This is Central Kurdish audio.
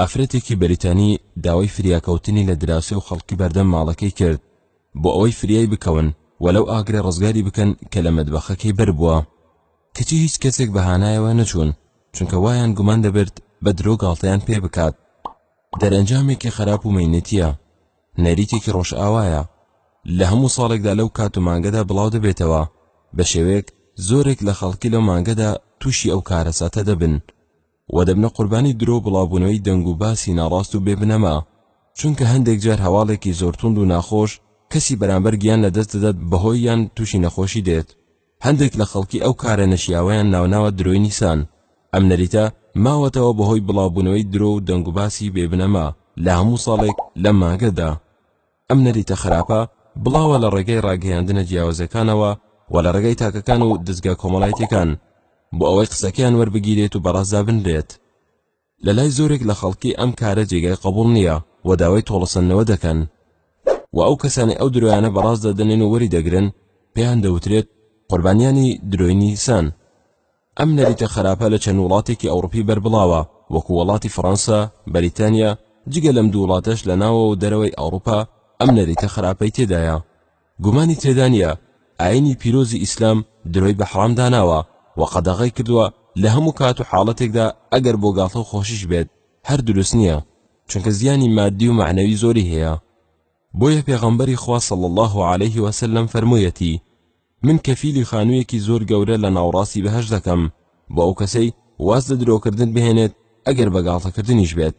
ئافرەتێکی بەریتانی داوای فریاکەوتنی لە دراوسێ و خەڵکی بەردەم ماڵەکەی کرد بۆ ئەوەی فریای بکەون و لەو ئاگرە ڕزگاری بکەن کە لە مەدبەخەکەی بەربووە کەچی هیچ کەسێک بە هانایەوە نەچوون چونکە وایان گومان دەبرد بە درۆ گاڵتەیان پێ بکات دەرەنجامێکی خراپ و مەینەتیە نەریتێکی ڕۆژئاوایە لە هەموو ساڵێکدا لەو کات و مانگەدا بڵاو دەبێتەوە بە شێوەیەک زۆرێک لە خەڵکی لەو مانگەدا تووشی ئەو کارەساتە دەبن و دەبنە قوربانی درۆ و بڵاوبوونەوەی دەنگ و باسی ناڕاست و بێ بنەما، چونکە هەندێک جار هەواڵێکی زۆر توند و ناخۆش کەسی بەرامبەر گیان لە دەست دەدات بەهۆی یان تووشی نەخۆشی دێت. هەندێک لە خەڵکی ئەو کارە نەشیاوەیان ناوناوە درۆی نیسان. ئەم نەریتە ماوەتەوە بەهۆی بڵاوبوونەوەی درۆ و دەنگ و باسی بێ بنەما لە هەموو ساڵێک لەم مانگەدا. ئەم نەریتە خراپە بڵاوە لە ڕێگای ڕاگەیاندنە جیاوزەکانەوە و لە ڕێگای تاکەکان و دەزگا کۆمەڵایەتیەکان بۆ ئەوەی قسەکەیان وەربگیرێت و بەڕێزدا بنرێت لە لای زۆرێک لە خەڵکی ئەم کارە جێگای قبوڵ نییە و داوای تۆڵەسەندنەوە دەکەن و ئەو کەسانی ئەو درۆیانە بەڕاست دەدەنێن و وەری دەگرن پێیان دەوترێت قوربانیانی درۆی نیسان. ئەم نەریتە خەراپە لە چەند وڵاتێکی ئەوڕوپی بەربڵاوە وەکو وەڵاتی فڕەنسا، بەریتانیا، جگە لەم دوو وڵاتەش لە ناوەوە و دەرەوەی ئەوڕوپا ئەم نەریتە خەراپەی تێدایە. گومانی تێدا نیە ئاینی پیرۆزی ئیسلام درۆی بە حەڕام داناوە و قەدەغەی کردوە لە هەموو کات و حاڵەتێکدا ئەگەر بۆ گاڵتە و خۆشیش بێت هەر دروست نیە چونکە زیانی مادی و مەعنەوی زۆری هەیە. بۆیە پێغەمبەری خوا صلی اللە علیه وسلم فەرموویەتی. من کەفیلی خانویەکی زۆر گەورە لە ناوڕاستی بەهەشت دەکەم بۆ ئەو کەسەی واز لە درۆکردن بهێنێت ئەگەر بە گاڵتەکردنیش بێت.